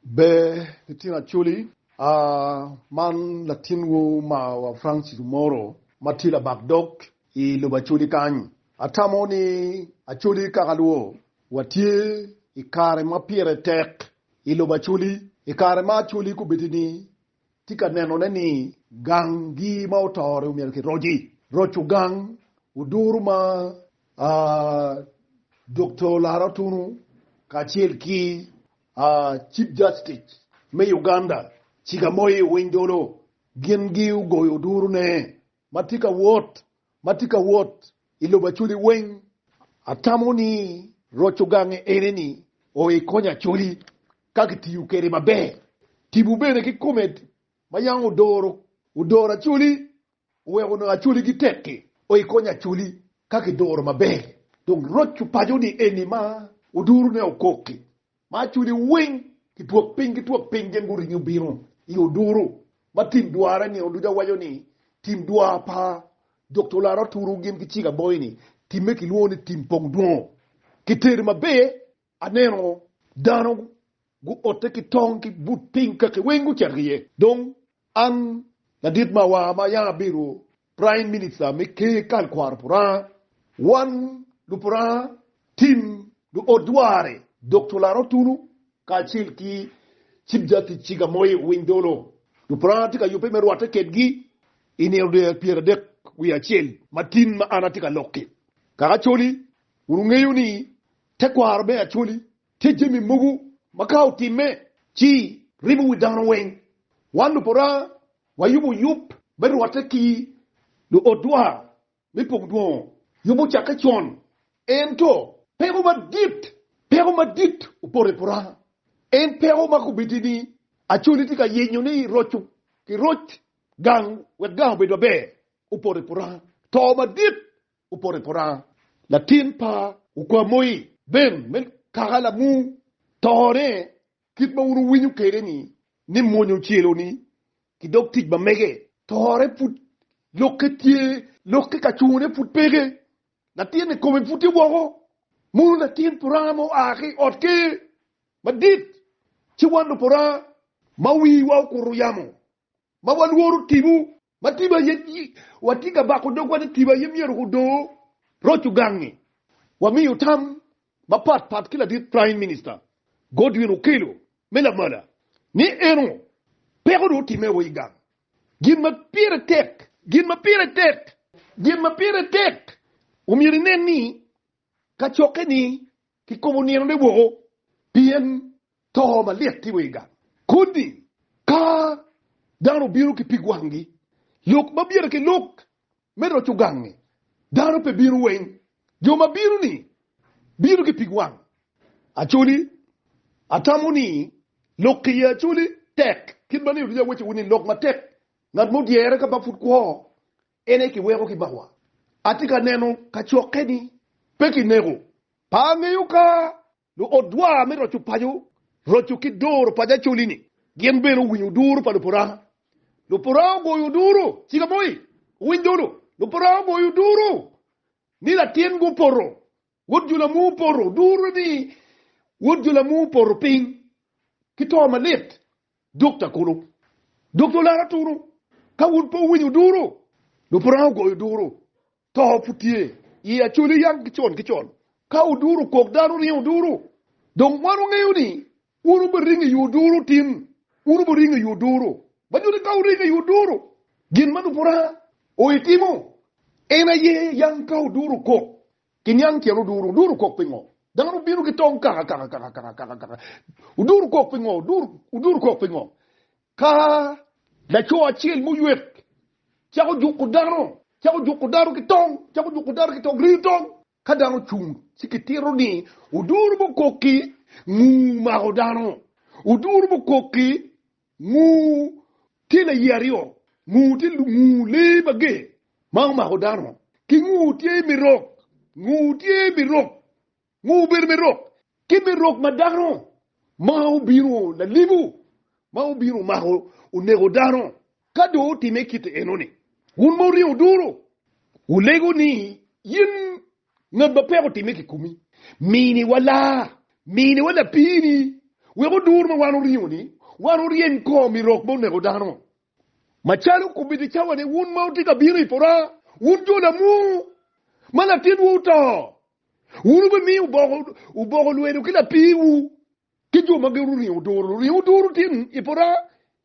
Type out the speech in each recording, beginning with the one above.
Ber nitino Acholi, aah, man latinwu marwa Francis Omoro ma tye labak dog i lobo Acholi kany. Atamo ni Acholi kaka lwo watye i kare ma pire tek i lobo Acholi, i kare ma Acholi kobedini tye ka nenone ni ganggi ma oto-ri omyero kiroc-ci, roco gang oduro ma, aah, Dokta Olara Otunu kacel ki Chief Justice me Uganda Chigamoy Owiny-Dolo gin gi ogoyo duru ne ma tye ka wot ma tye ka wot i lobo Acholi weng atamo ni roco gange ene ni oo i kony Acholi ka ki tiyo kede maber. Tipo bene ki kome ma yang odoro Acholi Wek onongo acoligi tek-ki, oye kony acoli ka kiduro maber. Dong roc opaco ni eni ma oduro ne okok-ki, ma acoli weng ki twok piny ki twok piny gin guringo bino i oduro ma tim dwara nino ducu. Awaco ni tim dwara pa Dokta Olara oturo gin ki cik aboyo ni, timme kilwongo ni tim pong dwongo. Kitedo maber Aneno dano guotte ki tong ki but piny kaki weng gucito ki iye. Dong an ladit mawar ma yam abedo Praim Minista me Ker kal kwaro pa Luranga, wan Lupuranga, tim luot dwarre Doctor Larot Tunu kacel ki Cip Jatic Cik Amoye Owiny Dolo, Lupuranga tye ka yubbe me rwatte kedgi i nino dyere pyera adek wiye acel matin ma an atye ka lok-ki. Kaka Acholi, wun wungeyo ni Tekwaro me Acholi tye jami mogo ma ka otimme ci ribo wi dano weng. Wan Luporanga wayubo yub me rwatte ki luot dwar me pong dwongo. Yub ocakke con, ento peko madit peko madit opoto i Poranga. En peko ma kobedo ni Acholi tye ka yenyo ni roco ki roc gang wek gang obed maber opoto i Poranga. To madit Opoto i pota latin pa Okwamoi Ben me kaka lamu tone kit ma wun wuwinyo kede ni ni mwonya ocelo ni ki dog tic ma mege tore pud lokke tye lokke ka cungo ne pud peke latin ni kome pud tye woko munu latin pota ma oa ki ot ker madit ci wan lupota ma wiwa okuto yamo ma walworo tibu Ma tipo aye watye ka bako dogwa ni tipo aye myero gudor roc ogangngi. Wamiyo tam mapat pat ki ladit Praim Minista Godwin Okello me lamala ni eno peko dong otimme wa i gang. Gin ma pire tek, gin ma pire tek, gin ma pire tek omyero inen ni kacokke ni kikobo ninone woko pien To malit timo i gang kodi ka dano obino ki pig wangi. Lok ma byere ki lok me roco gangi, dano pe bino weng. Jo ma bino ni bino ki pig wang. Acholi, Atamo ni lok ki ye acholi tek. Kit ma nino ducu aweco wu ni lok matek ngat mo dyere ka ba pud kwo en aye ki weko ki mawa. Atye ka neno kacokke ni pe ki neko. Pe angeyo ka Luodwa me roco paco roco ki doro paco Acholi-ni gin bene owinyo duru pa Luporanga. Luporanga ogoyo duru, Ciga Moi, owiny dulu, Luporanga ogoyo duru ni latin-gi opoto, wod jo Lamuu opoto, duru ni wod jo Lamuu opoto piny ki to malit, Dokta Kulu, Dokta Olara Tunu, ka wun pe wuwinyo duru, Luporanga ogoyo duru. To pud tye i Acholi yam ki con ki con, ka oduro okok dano ringo oduro. Dong wan wangeyo ni wun wubiringo i oduro tin, wun wubiringo i oduro. Ma nyuto ni ka wuringo i oduro, gin ma lupora oye timo en aye yam ka oduro okok, kiniang tyen oduro. Oduro okok pingo? Dano bino ki tong kaka kaka kaka kaka kaka kaka. Oduro okok pingo? Oduro okok pingo? Ka laco acel muywek cako juko dano, cako juko dano ki tong, cako juko dano ki tong, riyo tong, ka dano ocung ci kitito ni oduru mukoki nguu mako dano, oduru mukoki nguu tye laye aryo, nguu tye nguu lee mager ma omako dano ki nguu tye mirok, nguu tye mirok. Ngo obedo me rok? Kit me rok ma dano ma obino lalibu ma obino omako oneko dano. Ka dong otime kit enoni, wun ma wuryeo duru, wulego ni, In ngat ma peko timme kikomi, miniwa laa, miniwa lapiini, wek odur ma wan wuryeo-ni, wan wuryeny kom i rok me oneko dano. Macalo kubiti cawane, wun ma wutye ka bino i pora, wun jo lamur, ma latinwu oto, Wun wubimiyo oboko, oboko lwelo ki lapiwu, ki jo ma gin oringo duru. Luringo duru tye i pota,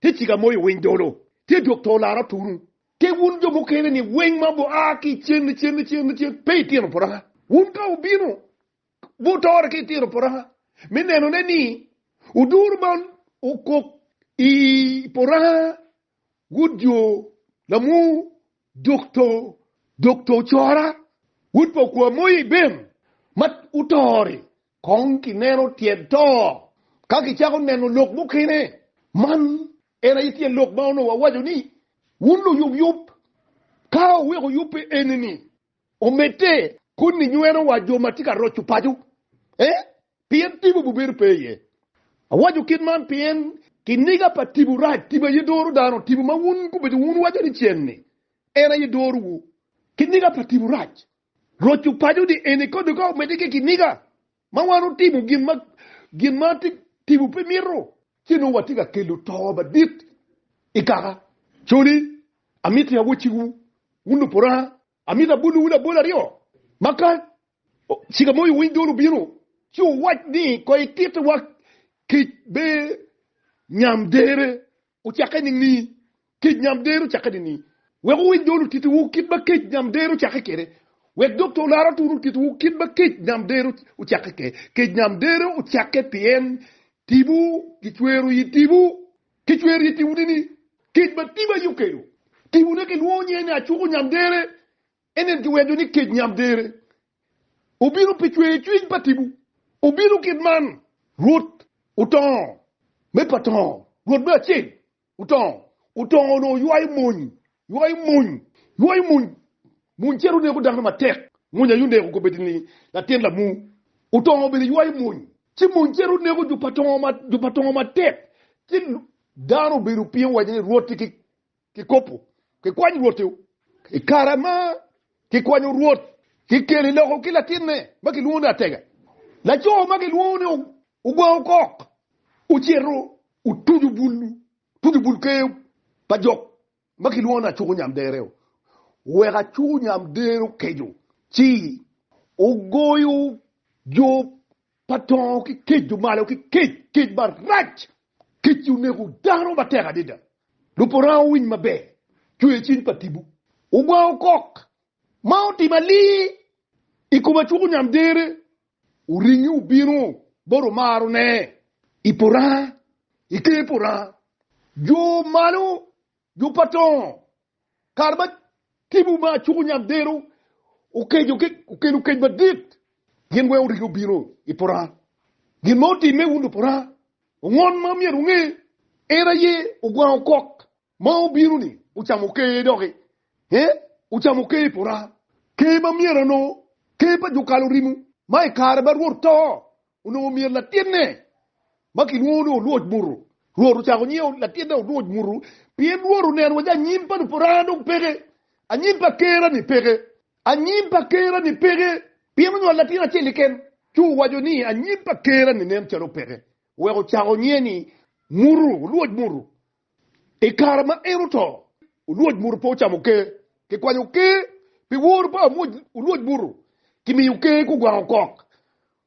tye cika moyo winy dolo, tye dok to laro tunu. Ki wun jo mukene ni winy ma gua ki i cen, i cen, i cen, i cen, pe i tino pota. Wun to wubino, wutore ki i tino pota, me nenone ni oduru man okok i pota, wut jo, lamur, Dokto, Dokto ocora, wod pa okwa moya i bem ma oto-ri. Kong kineno tyen to ka kicako neno lok mukene. Man en aye tyen lok ma onongo awaco ni, Wun luyub yub, ka oweko yub pe eni-ni, Omedde koni nyweno wa jo matye ka roco paco eh pien tipo bubedo pe iye. Awaco kit man pien kiniga pa tipo rac, tipo aye doro dano, tipo ma wun gubedo wun wuwaco ni cen ni en aye doro wu. Kiniga pa tipo rac, roco paco ni eni koni ka omedde ki kiniga Ma wan otimo gin ma gin ma timo pe mito, ci nongo watye ka kelo to madit i kaka. Coni, amiti awocciwu, wun luporanga, amito abolowu labol aryo, ma ka cika ma iwiny dol obino, ci wuwac ni, Koy ititiwa kic be nyam dere. Ocakke nining? Kec nyam dero cakke nining? Wek wuwiny dol otitiwu kit ma kec nyam dero cakke kwede. Wek dok to lar atura otitiwu kit ma kec nyam dero ocakke kwede. Kec nyam dero ocakke pien tipo kicwero i tipo. Kicwero i tipo nining? Kec ma tipo aye okelo. Tipone kilwongo nyinge ni acuko nyam dere. En ento weco ni kec nyamdere obino pi cweyo cwiny pa tipo. Obino kit man, Rwot otongo me pa tongo, Rwot me acel otongo, otongo onongo oywayo mony, ywayo mony, ywayo mony, mony cito neko dano matek, mony aye oneko kobedini latin lamu, otongo bene ywayo mony, ci mony cito neko jo pa tongo matek, ci dano obedo piny owaco ni Rwot-ti ki Kikopo, Kikwany Rwot-ti. I kare ma kikwanyo Rwot, kikele loko ki latinne ma kilwongo ni Atega. Laco ma kilwongo ni ogwango kok ocito otuco bul ker pa jok ma kilwongo ni Acuko Nyamdere-o. Wek Acuko Nyamdere okeco, ci ogoyo jo Pa tongo ki kec dong malo ki kec kec marac kec ci oneko dano matek adida lub oranga owiny maber cwer cing pa tibu ogwango kok ma otim alii i kom acuk onyam dere oringi obino bot omaro ne i poranga i ker poranga jo malo Jo pa tongo, kare ma timwu ma acuku nyam dero okeco ki okelo kec madit, gin weng oriki obino i Paran. Gin ma otimme wun Luparan, ongon ma myero wunge, en aye ogwango kok ma obino-ni ocamo ker doki, ee, ocamo ker i Paran, ker ma myero anongo ker pa jo kalo rimu, ma i kare ma Rwot to Onongo myero latinne ma kilwongo ni Olwoc Muru, Rwot ocako nyingo latinne Olwoc Muru pien Rwot oneno waci anyim pa Luparana dong peke, anyim pa Kera-ni peke, anyim pa Kera-ni peke, pien onywalo latin acel keken. Ci owaco ni anyim pa Kera-ni nen calo peke, wek ocako nyinge ni Muru, Olwoc Muru, I kare ma en oto, olwoc muto pe ocamo ker. Kikwanyo ker pi woro pa olwoc muto, kimiyo ker kugwango kok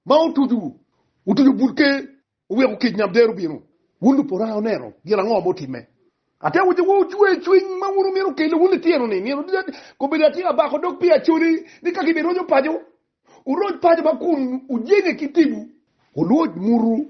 ma otuco otuco but ker, oweko kic nyam dero bino. Wun luporanga wuneno gin ango ma otimme? Ate wacciwu, wucwer cwiny ma wun wumito kelo wun lityenoni, nino ducu kobedo atyeko abako dog pi acoli ni ka kibiroco paco, wuroc paco ma kun wujenye ki tipo. Olwoc muto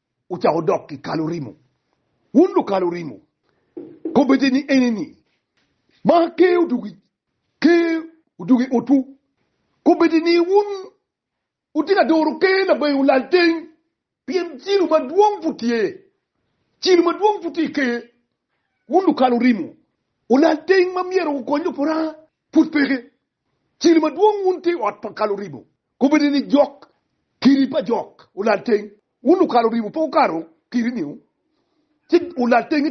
ocako dok ki kalo rimo. Wun lukalo rimo, kobbete ni eni ni, Ma ker odugi, ker odugi i otwu. Kobbete ni, Wun wutino adoro ker labeng olal teng, pien cilo madwong pud tye, cilo madwong pud tye i ker. Wun lukalo rimo, olal teng ma myero wukony Lupuranga pud peke. Cilo madwong wun te ot pa kalo ribo, kobedo ni jok kidi pa jok olal teng, wun lukalo ribo pe wukato kidi niu, ci olal teng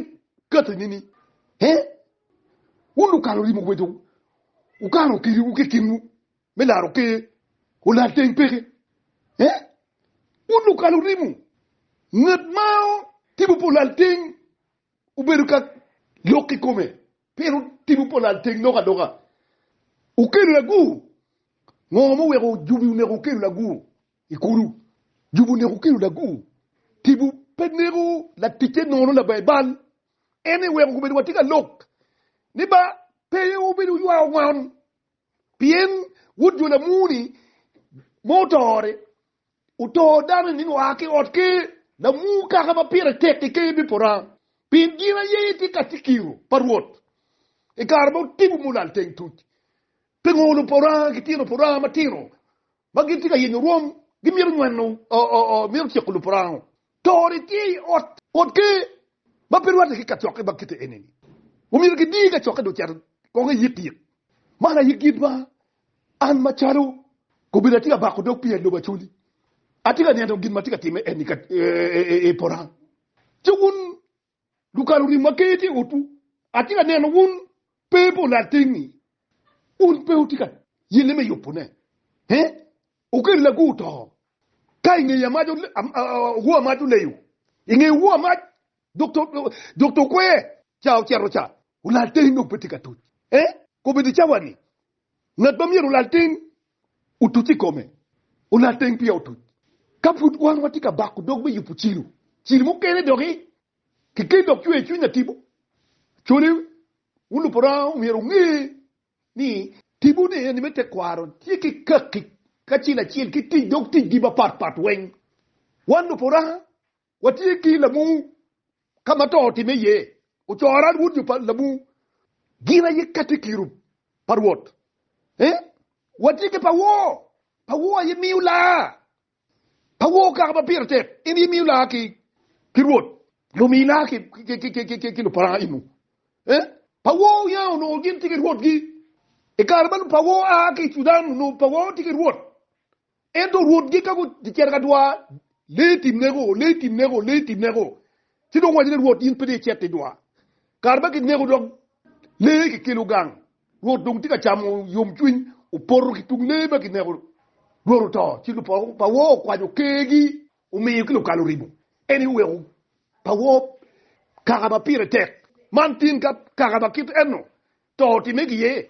kati nini? He? Wun lukalo ribo kobedo wukato kidiwu ki kinwu me laro Ker olal teng peke? He? Wun lukalo ribo, ngat ma tipo pe olal teng obedo ka lok kikome Pien wutimo pol adek lok adoka, wukelo lagur. Ngo ma oweko jubi oneko wukelo lagur i kulu? Jubi oneko wukelo lagur. Tipo pe neko laticce nono labaye bal. En-ni weko komedo watye ka lok ni ba pe wubedo wuywayo ngom, pien wut jo lamur-ni mo otore. Otoo dano ni oa ki ot ker, lamur kaka ma pire tek i ker bipora, pien gin aye tye ka ti kiro pa Rwot i kare ma otibo mulal teng tuc. Pingo lupora ki tino pora matino ma gitye ka yenyo rwom gimito nyweno, mito tyeko lupora? Tori tye i Ot Kot Ker ma pe rwatte ki kacokke ma kite eni-ni. Omyero gidir kacokke dong cito kong iyikiyik. Man aye gin ma an macalo kobedi atye ka bako dog pi Aloba Coli. Atye ka neno gin ma tye ka timme eni i Porang. Ci wun Lukalo rim ma keye tye i otwu. Atye ka neno wun pe i pol atingngi. Wun pe wutye ka yelle me yubone. Ee, okel lagu oto. Ka i ngeyi amac owo amac oleyo, i ngeyi owo amac dokta okwer ca ocito ca, olal teni dong pe tye ka tuc. Ee, kobedi cawa-ni, Ngat ma myero olal teng otuc i kome, olal teng peya otuc. Ka pud wan watye ka bako dog me yubo cilo, cilo mukene doki keken dok cweyo cwiny atibo. Cone olup Oranga myero onge ni tibone ni me tekwaro tye ki kaki kacel acel ki tic dog ticgi mapatpat weng. Wan lop Oranga Watye ki lamu ka ma to otimme iye, ocoro an wod jo pa lamu gin aye katekiru pa Rwot. Ee, watye ki pawo, pawo aye miyo laa, pawo kaka ma pire tek, en aye miyo laa ki Rwot, lumi laa ki luparanga inu. Ee, pawo oya onongo gin tye ki rwotgi, i kare ma lupawo a ki i Cudan onongo pawo tye ki rwot, Ento rwotgi ka gucito ka dwar, lee i tim neko, lee i tim neko, lee i tim neko. Ci dong owaco ni, 'Rwot, in pe ni icito i dwar. Kare ma kineko dok lee kikelo gang, Rwot dong tye ka camo yomcwiny, opoto ki tung lee ma kineko. Rwot oto, ci lupoko pa wor okwanyo kergi, omiyo ki lukalo rimo. En aye oweko pa wor kaka ma pire tek. Man tin ka kaka ma kit enno to otimme ki iye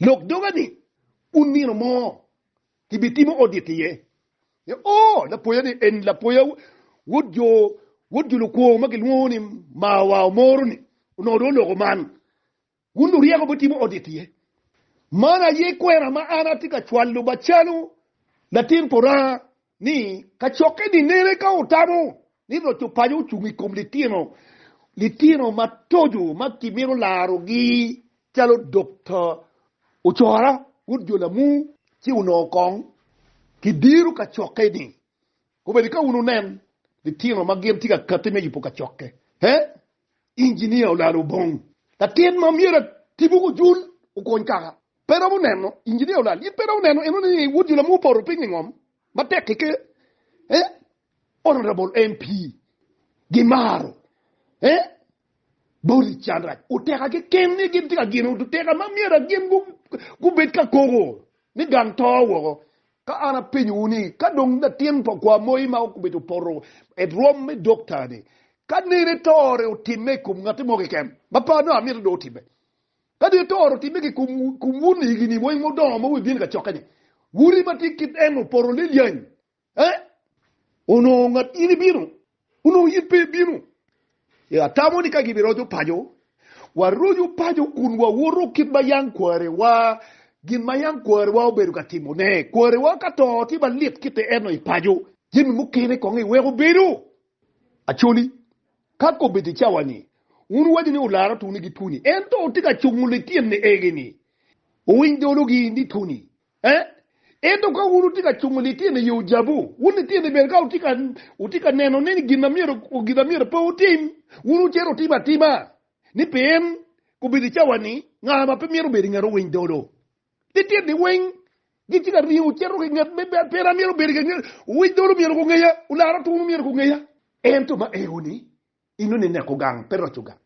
Lok doga ni un nino mo kibitimo odit iye. Oh, lapoya ni en lapoya wod jo wod jo lukwo ma gilwongo ni Mawa omoro ni onongo dong oloko man. Wun luryeko bitimo odit iye. Man aye kwena ma an atye ka cwalo bacalo latin puranga ni kacokke ni nene ka wutamo ni roc opaco ocung i kom litino litino matoco ma kimito larogi calo Dokta Ocora Wod Jo Lamu ci onongo kong kidiro kacokke ni obedi ka wun wunen litino ma gin tye ka kati me yubo kacokke. Inginia olalo obong. Latin ma myero atibu ki ojul okwony kaka. Pe iromo neno, Inginia olal, in pe iromo neno eno ni wod jula mo opoto piny ingom matek ki ker? Eh? Honorable MP, gimaro eh? Body can rac. Oteka keken ni gin tye ka gino oteka ma myero gin gubed ka koko ni gang to woko. Ka an apenyowu ni, ka dong latin pa kwa moi ma obedo poto erom me dokta-ni, ka nene tore otimme i kom ngati mo keken, ma par nongo amito dong otimme. Ka nene tore otimme ki i kom wun i higini weng mudongo ma wubino i kacokke-ni, wun ri ma tye kit en opoto lelyany, ee, onongo ngat in ibino Onongo in pe ibino. E, atamo ni ka gibiroco paco, waroco paco kun wawoto kit ma yam kwarewa, gin ma yam kwarewa obedo ka timone. Kwarewa ka to tye malit kite eno i paco, jami mukene kong iweko bedo. Acholi, ka kobbe tye cawa-ni, wun wuwaco ni olara Tony ki Tony, ento tye ka cungo lityen-ni egi-ni. Owiny dolo-gi ni Tony, Ee, ento ka wun wutye ka cungo lityen i ojabu, wun lityen ni bene ka wutye ka neno ni gin na myero pe wutim, wun wucito wutimo atima, ni pien kobedo i cawa-ni, nga ma pe myero bedo i nget owiny dolo? Lityen-ni weng gitye ka ringo cito ki i nget me bad pien amyero obed i nget, owiny dolo myero gungeya, olara otunu myero gungeya. Ento ma eo-ni, Inu ni neko gang pe roco gang.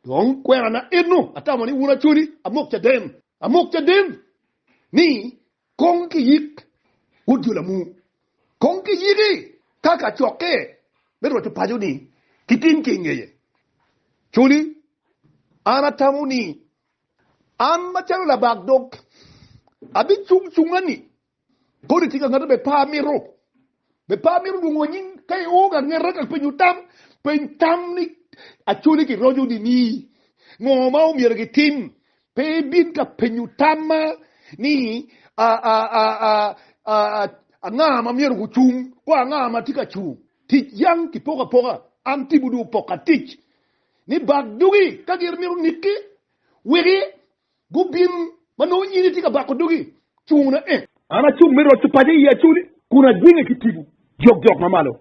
Dong kwena na enu atamo ni wun acholi amok caden, amok caden ni kong ki yik wod jo lamu, kong ki yiki ka ka cokke me roco paco ni ki tim ki ingeye. Choli an atamo ni an macalo labak dog abi cung cunga ni Kodi tika ngati be par mito be par mito lwongo nying ka i o ka ngeta ka penyo tam peny tam ni acoli ki rojo ni ni ngo ma omyero ki tim pe bin ka penyo tam ma ni a a a a a a a nga ma myero ku cung ko a nga ma tika cung tic yang ki poka poka an tibu du poka tic ni bak dugi ka gir mito niki wiki Gubin ma nongo nyinge tye ka bako dogi cung na en. An acung me roco paco i Yacuni, kun ajwinge ki tipo jokjok ma malo.